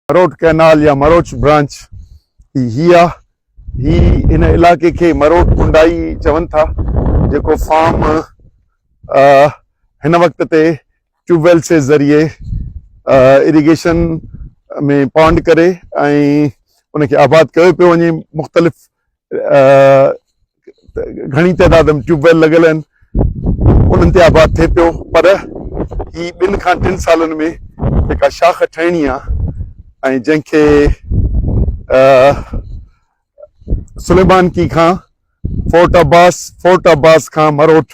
Marot canal يا مروچ branch ئي هي آ. هي هن علائقي کي مروٽ ڪنڊائي چون ٿا جيڪو فارم هن وقت تي ٽيوب ويل سي ذريعي اريگيشن ۾ پانڊ ڪري ۽ ان کي آباد ڪيو پيو وڃي مختلف گهڻي تعداد ۾ ٽيوب ويل لڳل آهن انهن تي آباد ٿئي پيو پر هي ٻن کان ٽن سالن ۾ جيڪا شاخ ٺهڻي آهي ۽ جنهن کي سليمان ڪي کان فورٽ عباس فورٽ عباس کان مروٽ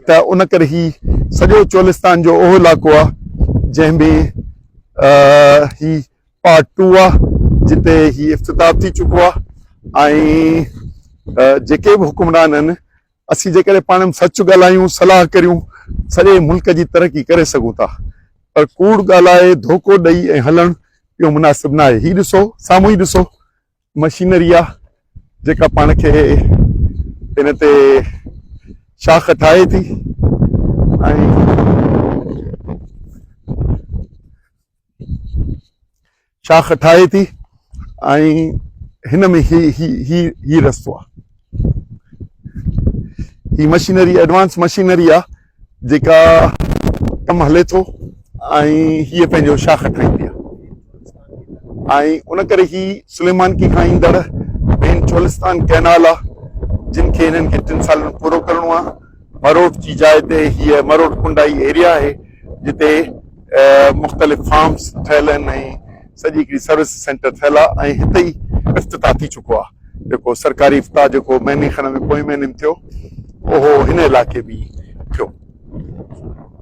ته ان ڪري هي سڄو چولستان جو اهو علائقو آهي جنهن ۾ هي پارٽ ٽو آهي جتي هي افتتاح ٿي چڪو آهي ۽ جيڪي به حڪمران آهن اسين جيڪڏهن پاڻ ۾ سچ ڳالهايون صلاح ڪريون سڄي ملڪ جي ترقي ڪري سگهون ٿا پر ڪوڙ ڳالهائي ڌوڪو ڏئي ۽ هلڻ اهو مناسب نه آهي هي ڏسو سامهون ئي ڏسو مشينري آ جيڪا پاڻ کي ان تي شاخ ٺاهي ٿي شاخ ٺاهي ٿي هن ۾ هي هي هي هي رستو آ هي مشينري ايڊوانس مشينري آ جيڪا ڪم هلي ٿو ۽ هيء پنهنجو شاخ ٺاهيندي آهي ۽ ان ڪري هي سليمانڪي کان ايندڙ مين چولستان ڪئنال آهي جن کي هنن کي ٽن سالن ۾ پورو ڪرڻو آهي مروٽ جي جاء تي هيء مروٽ ڪنڊائي ايريا آهي جتي مختلف فارمز ٺهيل آهن ۽ سڄي هڪڙي سروس سينٽر ٺهيل آ ۽ هتي ئي افتتاح ٿي چڪو آ جيڪو سرڪاري افتتاح جيڪو مهيني کن ۾ پوئين مهيني ۾ ٿيو اهو هن علائقي ۾ ئي ٿيو.